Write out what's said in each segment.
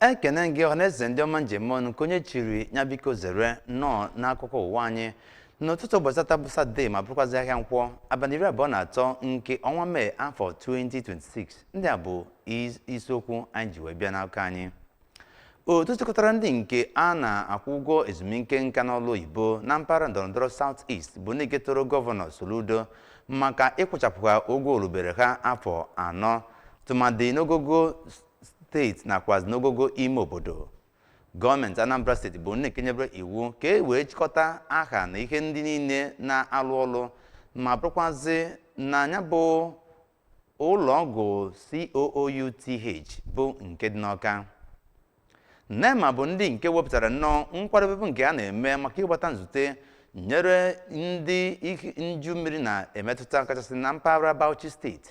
ekene gị ọhaneze ndị ọma m ji eme ọnụ nke onye chiri ya biko zere nnọọ n'akụkọ ụwa anyị n'ụtụtụ ụbọchị tata bụ satọde ma bụrụkwazị ahịa nkwọ abalị iri abụọ na atọ nke ọnwa mee afọ 2026 ndị a bụ is- isiokwu anyị ji wee bịa n'akụkọ anyị otu chịkọtara ndị nke a na-akwụ ụgwọ ezumike nka n'ọlụ oyibo na mpaghara ndọrọndọrọ South East bụ ndị nke toro gọvanọ Soludo maka ịkwụchapụ ha ụgwọ rubere ha afọ anọ tụmadị n'ogogo steeti nakwazi n'ogogo ime obodo gọọmenti anambra steeti bụ ndị nke nyebere iwu ka e wee chịkọta aha na ihe ndị niile na-alụ ọlụ ma bụrụkwazị na ya bụ ụlọ ọgwụ COOUTH bụ nke dị n'Ọka nema bụ ndị nke wepụtara nnọọ nkwadobe nke a na-eme maka ịgbata nzute nyere ndị nju mmiri na-emetụta kachasị na mpaghara Bauchi steeti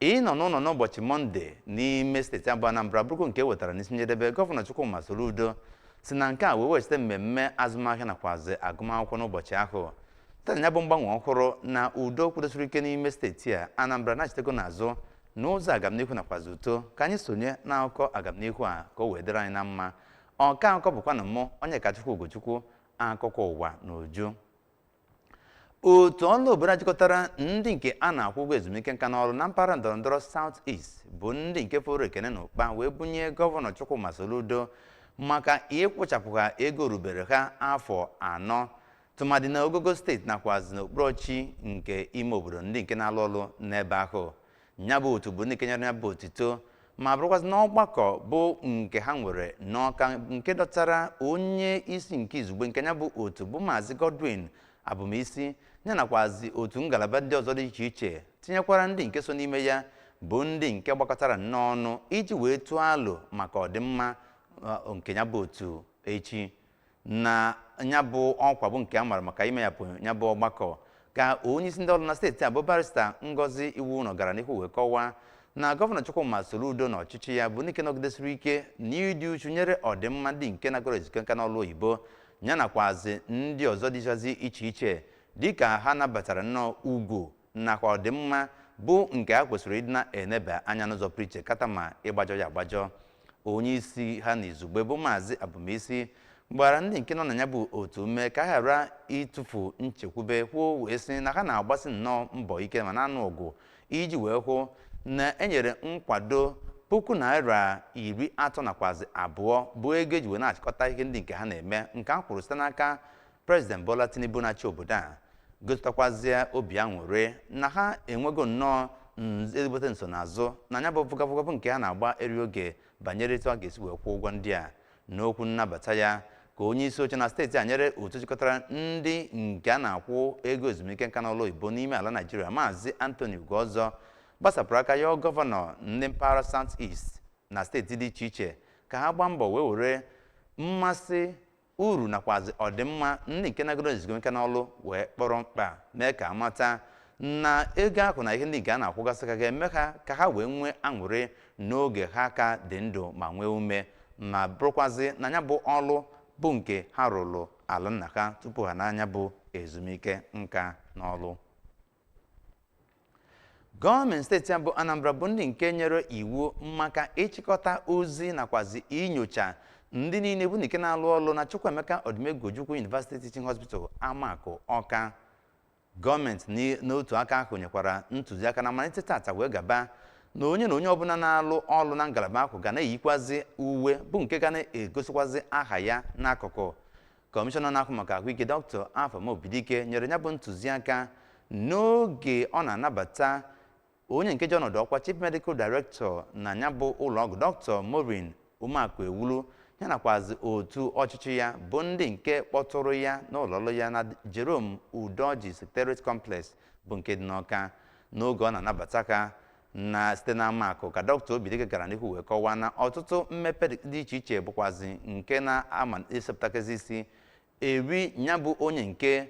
Ịnọ n'ụlọ n'ụbọchị Mọnde n'ime steeti a bụ Anambra bụrụkwa nke e wetara n'isi njedebe gọvanọ Chukwuma Soludo si na nke a wee weghachite mmemme azụmahịa nakwazi agụmakwụkwọ n'ụbọchị ahụ site na ya bụ mgbanwe ọhụrụ na udo kwudosiri ike n'ime steeti a Anambra anachitego n'azụ n'ụzọ agamnihu nakwazi uto ka anyị sonye n'akụkọ agamnihu a ka o wee dịrị anyị na mma ọka akụkọ bụkwanụ mụ onyekachukwu ugochukwu akụkọ ụwa n'uju otu ọra obodo a jikọtara ndị nke a na-akwụ ụgwọ ezumike nka n'ọlụ na mpaghara ndọrọndọrọ South East bụ ndị nke foro ekene na ụkpa wee bunye gọvanọ Chukwuma Soludo maka ịkwụchapụ ha ego rubere ha afọ anọ tụmadị na ogogo steeti nakwazi n'okpuru ọchịchị nke ime obodo ndị nke na-alụ ọlụ n'ebe ahụ nya bụ otu bụ ndị nke nyere ya bụ otito ma bụrụkwazị n'ọgbakọ bụ nke ha nwere n'ọka nke dọtara onye isi nke izugbe nke ya bụ otu bụ maazị Godwin abumisi ya nakwazi otu ngalaba ndị ọzọ dị iche iche tinyekwara ndị nke so n'ime ya bụ ndị nke gbakọtara nnọọ ọnụ iji wee tụọ alo maka ọdịmma nke ya bụ otu echi na ya bụ ọkwa bụ nke a mara maka imeyepụ ya bụ ọgbakọ ka onyeisi ndị ọlụ na steeti a bụ barista ngozi iwouno gara n'ihu wee kọwaa na gọvanọ chukwuma soludo na ọchịchị ya bụ ndị nke nọgidesiri ike na ịdị uchu nyere ọdịmma ndị nke nagoro ezumike nka n'ọlụ oyibo ya nakwazi ndị ọzọ dịchazi iche iche dịka ha nabatara nnọọ ugwu nakwa ọdịmma bụ nke a kwesịrị ịdị na-eneba anya n'ụzọ pụrụ iche kata ma ịgbajọ ya agbajọ onye isi ha na izugbe bụ maazị abumisi gbara ndị nke nọ na ya bụ otu ume ka ha ghara ịtụfu nchekwube kwuo wee sị na ha na-agbasi nnọọ mbọ ike ma na-anụ ọgụ iji wee hụ na e nyere nkwado puku naira iri atọ nakwazi abụọ bụ ego e ji wee na-achịkọta ihe ndị nke ha na-eme nke a kwụrụ site n'aka prezident bola tinubu na-achị obodo a gosipụtakwazie obi aṅụrị na ha enwego nnọọ nz- ezigbote nsonaazụ na nya bụ vụgavụgavụ nke a na-agba eri oge banyere etu a ga-esi wee kwụọ ụgwọ ndị a n'okwu nnabata ya ka onye isi oche na steeti a nyere otu jikọtara ndị nke a na-akwụ ego ezumike nka n'ọlụ oyibo n'ime ala naijiria maazị anthony ugozor gbasapụrụ aka yọọ gọvanọ ndị mpaghara south east na steeti dị iche iche ka ha gbaa mbọ wee were mmasị uru nakwazi ọdịmma ndị nke nagoro ezumike nka n'ọlụ wee kpọrọ mkpa mee ka a mata na ego ahụ na ihe ndị nke a na-akwụgasị ha ga-eme ha ka ha wee nwee aṅụrị n'oge ha ka dị ndụ ma nwee ume ma bụrụkwazi na ya bụ ọlụ bụ nke ha rụrụ ala nna ha tupu ha naa nya bụ ezumike nka n'ọlụ gọọmenti steeti a bụ anambra bụ ndị nke nyere iwu maka ịchịkọta ozi nakwazi inyocha ndị niile bụ nke na-alụ ọlụ na chukwuemeka odumegwu ojukwu university teaching hospital amakụ ọka gọọmenti n'i- n'otu aka ahụ nyekwara ntụziaka na malite tata wee gaba na onye na onye ọbụla na-alụ ọlụ na ngalaba ahụ ga na-eyikwazi uwe bụ nke ga na-egosikwazi aha ya n'akụkụ kọmishọna na-ahụ maka ahụike dọkịta afam obidike nyere ya bụ ntụziaka n'oge ọ na-anabata onye nke ji ọnọdụ ọkwa chief medical director na ya bụ ụlọọgwụ dọkịta maureen umeakuewulu ya nakwazi otu ọchịchị ya bụ ndị nke kpọtụrụ ya n'ụlọọlụ ya na jerome udoji secretariat complex bụ nke dị n'ọka n'oge ọ na-anabata ha na site na Amakụ ka dọkịta Obidike gara n'ihu wee kọwaa na ọtụtụ mmepe dị iche iche bụkwazi nke na-ama esepụtakezi isi eri ya bụ onye nke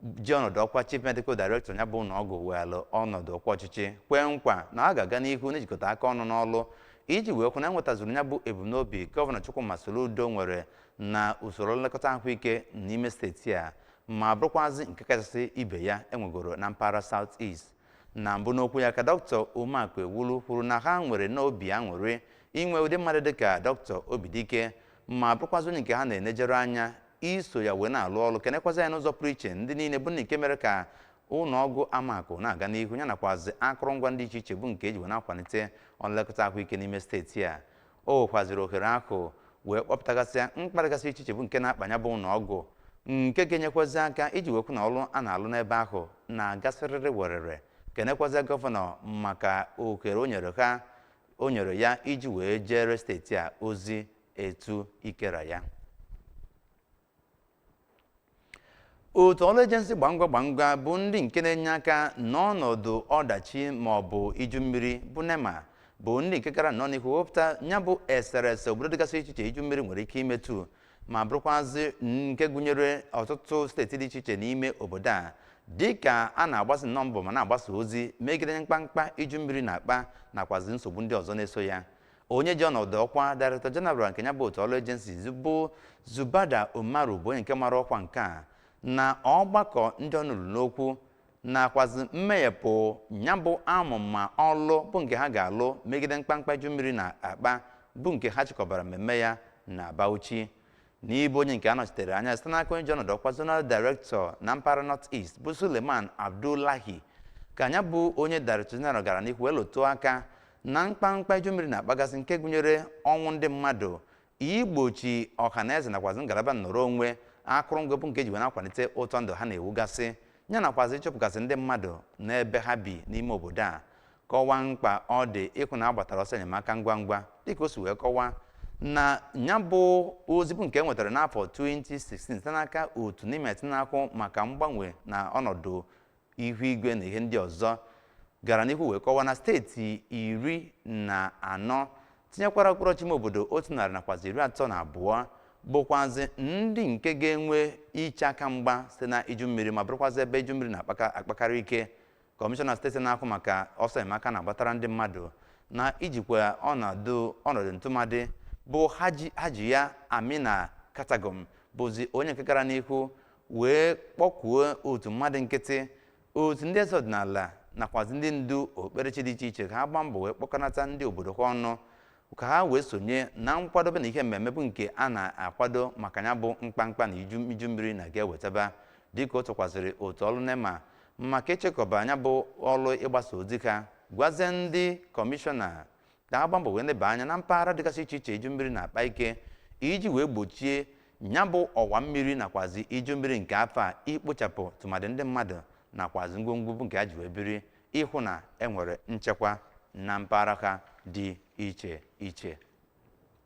ji ọnọdụ ọkwa chief medical director ya bụ ụlọ ọgwụ weelụ ọnọdụ ọkwa ọchịchị kwee nkwa na ọ ga-aga n'ihu n'ijikọta aka ọnụ n'ọlụ iji wee hụ na e nwetazuru ya bụ ebumnobi gọvanọ Chukwuma Soludo nwere na usoro nlekọta ahụike n'ime steeti a ma bụrụkwazị nke kachasị ibe ya e nwegoro na mpaghara South East na mbụ n'okwu ya ka dọkịta umeakuewulu kwuru na ha nwere nnọọ obi aṅụrị inwe ụdị mmadụ dịka dọkịta obidike ma bụrụkwazị onye nke ha na-enejere anya iso ya wee na-alụ ọlụ kenekwazịa n'ụzọ pụrụ iche ndị niile bụ ndị nke mere ka ụlọ ọgwụ amakụ na-aga n'ihu ya nakwazị akụrụngwa ndị iche iche bụ nke e ji wee na-akwalite nlekọta ahụike n'ime steeti a O wekwaziri ohere ahụ wee kpọpụtagasịa mkpa dịgasị iche iche bụ nke na-akpa nya bụ ụlọ ọgwụ nke ga-enyekwazi aka iji wee hụ na ọlụ a na-alụ n'ebe ahụ na-aga sịrịrị werere kenekwazịa gọvanọ maka ohere o nyere ha o nyere ya iji wee jeere steeti a ozi etu ike ra ya otu ọrụ ejensi gbangwa gbangwa bụ ndị nke na-enye aka n'ọnọdụ ọdachi ma ọ bụ iju mmiri bụ nema bụ ndị nke gara nnọọ n'ihu wepụta ya bụ eserese obodo dịgasị iche iche iju mmiri nwere ike imetụ ma bụrụkwazị nke gụnyere ọtụtụ steeti dị iche iche n'ime obodo a dịka a na-agbasi nnọọ mbọ ma na-agbasa ozi megide mkpamkpa iju mmiri na-akpa nakwazi nsogbu ndị ọzọ na-eso ya onye ji ọnọdụ ọkwa Director General nke ya bụ otu ọrụ agency bụ Zubaida Umaru bụ onye nke mara ọkwa nke a na ọgbakọ ndị ọnụ ruru n'okwu nakwazi mmeghepụ ya bụ amụma ọlụ bụ nke ha ga-alụ megide mkpamkpa iju mmiri na-akpa bụ nke ha chịkọbara mmemme ya na Bauchi n'ịbụ onye nke anọchitere anya site n'aka onye ji ọnọdụ ọkwa zonal director na mpaghara north east bụ suleiman abdullahi ka ya bụ onye director general gara n'ihu wee lụtụ aka na mkpamkpa iju mmiri na-akpagasị nke gụnyere ọnwụ ndị mmadụ igbochi ọha na eze nakwazi ngalaba nnọrọ onwe akụrụngwa bụ nke ji wee na-akwalite ụtọ ndụ ha na-ewugasị ya nakwazi ịchụpụgasị ndị mmadụ n'ebe ha bi n'ime obodo a kọwaa mkpa ọ dị ịhụ na a gbatara ọsọ enyemaka ngwa ngwa dịka o si wee kọwaa na ya bụ ozi bụ nke e nwetara n'afọ 2016 site n'aka otu nimet na-ahụ maka mgbanwe na ọnọdụ ihu igwe na ihe ndị ọzọ gara n'ihu wee kọwaa na steeti iri na anọ tinyekwara okpuru ọchịchị ime obodo otu narị nakwazi iri atọ na abụọ bụkwazi ndị nke ga-enwe iche aka mgba site na iju mmiri ma bụrụkwazi ebe iju mmiri na-akpakarị ike kọmishọna steeti na-ahụ maka ọsọ enyemaka a na-agbatara ndị mmadụ na ijikwa ọnọdụ ntụmadị bụ hajiya amina katagom bụzi onye nke gara n'ihu wee kpọkuo otu mmadụ nkịtị otu ndị eze ọdịnala nakwazi ndị ndu okpukperechi dị iche iche ka ha gbaa mbọ wee kpọkọnata ndị obodo ha ọnụ ka ha wee sonye na nkwadobe na ihe mmemme bụ nke a na-akwado maka ya bụ mkpamkpa na iju mmiri na ga-ewetaba dịka o tokwaziri otu ọrụ nema maka ịchịkọba ya bụ ọrụ ịgbasa ozi ka gwazie ndị kọmishọna ka ha gbaa mbọ wee neba anya na mpaghara dịgasị iche iche iju mmiri na-akpa ike iji wee gbochie ya bụ ọwa mmiri nakwazi iju mmiri nke afọ a ikpochapụ tụmadị ndị mmadụ nakwazi ngwongwo bụ nke ha ji wee biri ịhụ na enwere nchekwa na mpaghara ha dị iche iche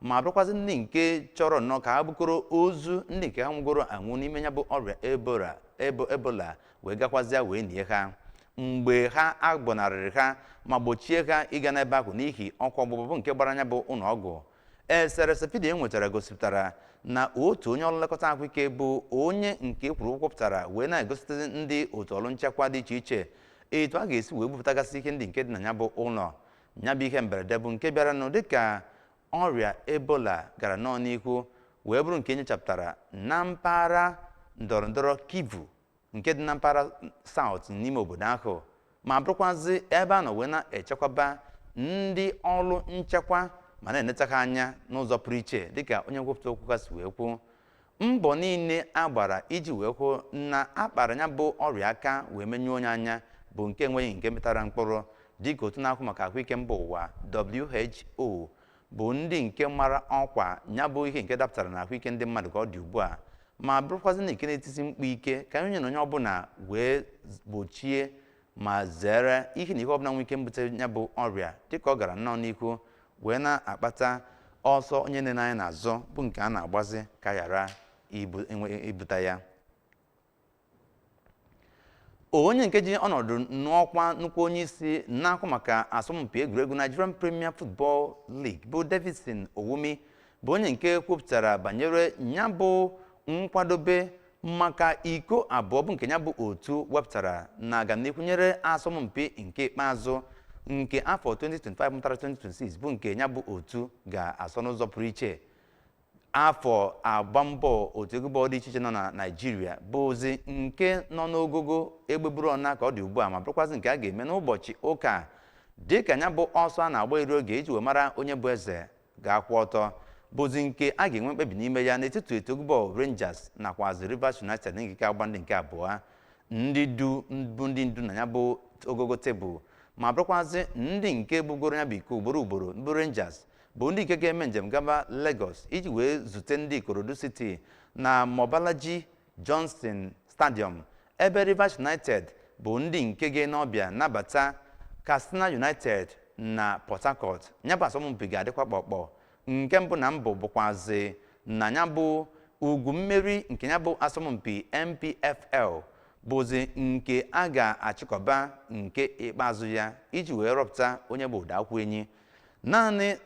ma bụrụkwazị ndị nke chọrọ nnọọ ka ha bukọrọ ozu ndị nke ha nwụgoro anwụ n'ime ya bụ ọrịa ebola wee gakwazịa wee nie ha mgbe ha agbọnarịrị ha ma gbochie ha ịga n'ebe ahụ n'ihi ọkụ ọgbụgba bụ nke gbara ya bụ ụlọ ọgwụ eserese vidiyo e nwetara gosipụtara na otu onye ọrụ nlekọta ahụike bụ onye nke kwuru ụgwọ pụtara wee na-egosipụtazi ndị otu ọrụ nchekwa dị iche iche etu a ga-esi wee bupụtagasị ihe ndị nke dị na ya bụ ụlọ ya bụ ihe mberede bụ nke bịaranụ dịka ọrịa ebola gara nnọọ n'ihu wee bụrụ nke enyochapụtara na mpaghara ndọrọndọrọ kivu nke dị na mpaghara South n'ime obodo ahụ ma bụrụkwazị ebe a nọ wee na-echekwaba ndị ọrụ nchekwa ma na-eneta ha anya n'ụzọ pụrụ iche dịka onye nkwupụta okwu ha si wee kwuo mbọ niile a gbara iji wee hụ na a kpara ya bụ ọrịa aka wee menyụọ ya anya bụ nke enweghị nke mịtara mkpụrụ dịka otu na-ahụ maka ahụike mba ụwa WHO bụ ndị nke mara ọkwa ya bụ ihe nke dapụtara na ahụike ndị mmadụ ka ọ dị ugbu a ma bụrụkwazị ndị nke na-etisi mkpu ike ka onye na onye ọbụla wee gbochie ma zere ihe na ihe ọbụla nwere ike mbute ya bụ ọrịa dịka ọ gara nnọọ n'ihu wee na-akpata ọsọ onye enena anya n'azụ bụ nke a na-agbazi ka a ghara ibute ya onye nke ji ọnọdụ n'ọkwa nnukwu onye isi na-ahụ maka asọmpi egwuregwu Nigerian Premier Football League bụ Davidson Owumi bụ onye nke kwupụtara banyere ya bụ nkwadobe maka iko abụọ bụ nke ya bụ otu wepụtara na-aga n'ihu nyere asọmpi nke ikpeazụ nke afọ 2025 mụtara 2026 bụ nke ya bụ otu ga-asọ n'ụzọ pụrụ iche afọ agba mbọ otu egwu bọọlụ dị iche iche nọ na naijiria bụzi nke nọ n'ogogo egbeburu ọna ka ọ dị ugbu a ma bụrụkwazị nke a ga-eme n'ụbọchị ụka dịka ya bụ ọsọ a na-agba iri oge iji wee mara onye bụ eze ga-akwụ ọtọ bụzi nke a ga-enwe mkpebi n'ime ya n'etiti otu egwu bọọlụ Rangers nakwazi Rivers United ndị nke agba ndị nke abụọ ndị du bụ ndị ndu na ya bụ ogogo tebụl ma bụrụkwazị ndị nke bugoro ya bụ iko ugboro ugboro bụ Rangers bụ ndị nke ga-eme njem gaba Lagos iji wee zute ndị Ikorodu City na Mobolaji Johnson Stadium ebe Rivers United bụ ndị nke ga-ene ọbịa nabata Katsina United na Port Harcourt ya bụ asọmpi ga-adịkwa kpọkpọ nke mbụ na mbụ bụkwazi na ya bụ ugo mmeri nke ya bụ asọmpi NPFL bụzi nke a ga-achịkọba nke ikpeazụ ya iji wee rọpụta onye bụ ụdọ akpụ enyi naanị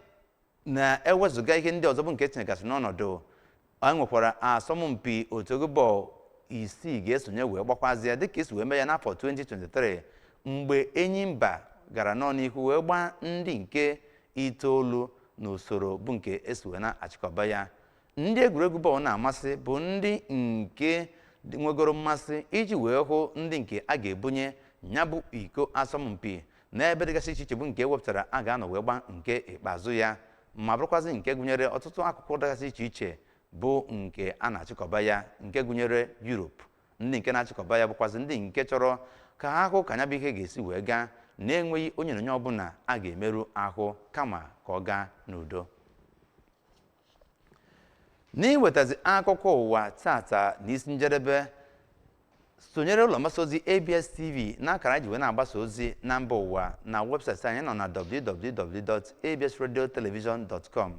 na ewezuga ihe ndị ọzọ bụ nke etinyegasị n'ọnọdụ anyị nwekwara asọmpi otu egwu bọọlụ isii ga-esonye wee gbakwazi ya dịka esi wee mee ya n'afọ 2023 mgbe Enyimba gara nnọọ n'ihu wee gbaa ndị nke itoolu n'usoro bụ nke esi wee na-achịkọba ya ndị egwuregwu bọọlụ na-amasị bụ ndị nke nwegoro mmasị iji wee hụ ndị nke a ga-ebunye ya bụ iko asọmpi n'ebe dịgasị iche iche bụ nke e wepụtara a ga-anọ wee gbaa nke ikpeazụ ya ma bụrụkwazị nke gụnyere ọtụtụ akụkụ dịgasị iche iche bụ nke a na-achịkọba ya nke gụnyere Europe ndị nke na-achịkọba ya bụkwazị ndị nke chọrọ ka ha hụ ka ya bụ ihe ga-esi wee gaa na-enweghị onye na onye ọbụla a ga-emerụ ahụ kama ka ọ gaa n'udo n'iwetazi akụkọ ụwa taata na isi njedebe sonyere ụlọ mgbasa ozi abs tv n'akara anyị ji wee na-agbasa ozi na mba ụwa na webụsaịtị anyị nọ na www.absradiotelevision.com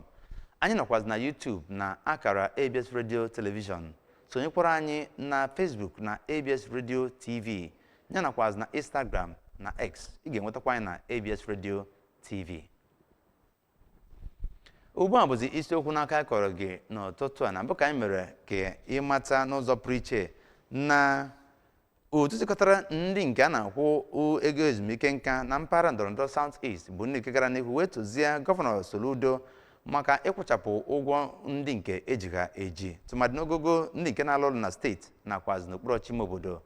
anyị nọkwazi na youtube na akara abs radio television sonyekwara anyị na facebook na abs radio tv ya nakwazi na instagram na x ị ga-enwetakwa anyị na abs radio tv ugbu a bụzi isiokwu nke a kọrọ gị n'ụtụtụ a na mbụ ka anyị mere ka ị mata n'ụzọ pụrụ iche na otu jikọtara ndị nke a na-akwụ ụ- ego ezumike nka na mpaghara ndọrọndọrọ South East bụ ndị nke gara n'ihu wee tozie gọvanọ Soludo maka ịkwụchapụ ụgwọ ndị nke e ji ha eji tụmadị n'ogogo ndị nke na-alụ ọrụ na steeti nakwazi n'okpuru ọchịchị ime obodo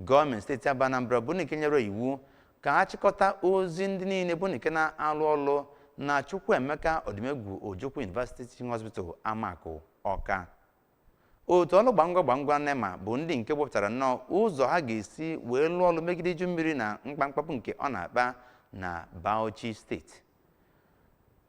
gọọmenti steeti a bụ Anambra bụ ndị nke nyere iwu ka a chịkọta ozi ndị niile bụ ndị nke na-alụ ọlụ na Chukwuemeka Odumegwu Ojukwu University Teaching Hospital Amakụ Ọka otu ọlụ gbangwa gbangwa nema bụ ndị nke wepụtara nnọọ ụzọ ha ga-esi wee lụọ ọlụ megide iju mmiri na mkpamkpa bụ nke ọ na-akpa na Bauchi steeti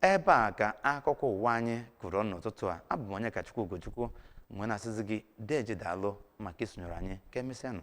ebe a ka akụkọ ụwa anyị kụrụ nnọọ n'ụtụtụ a abụ m Onyekachukwu Ugochukwu m wee na-asịzi gị deeje daalụ maka isonyere anyị ka emesịanụ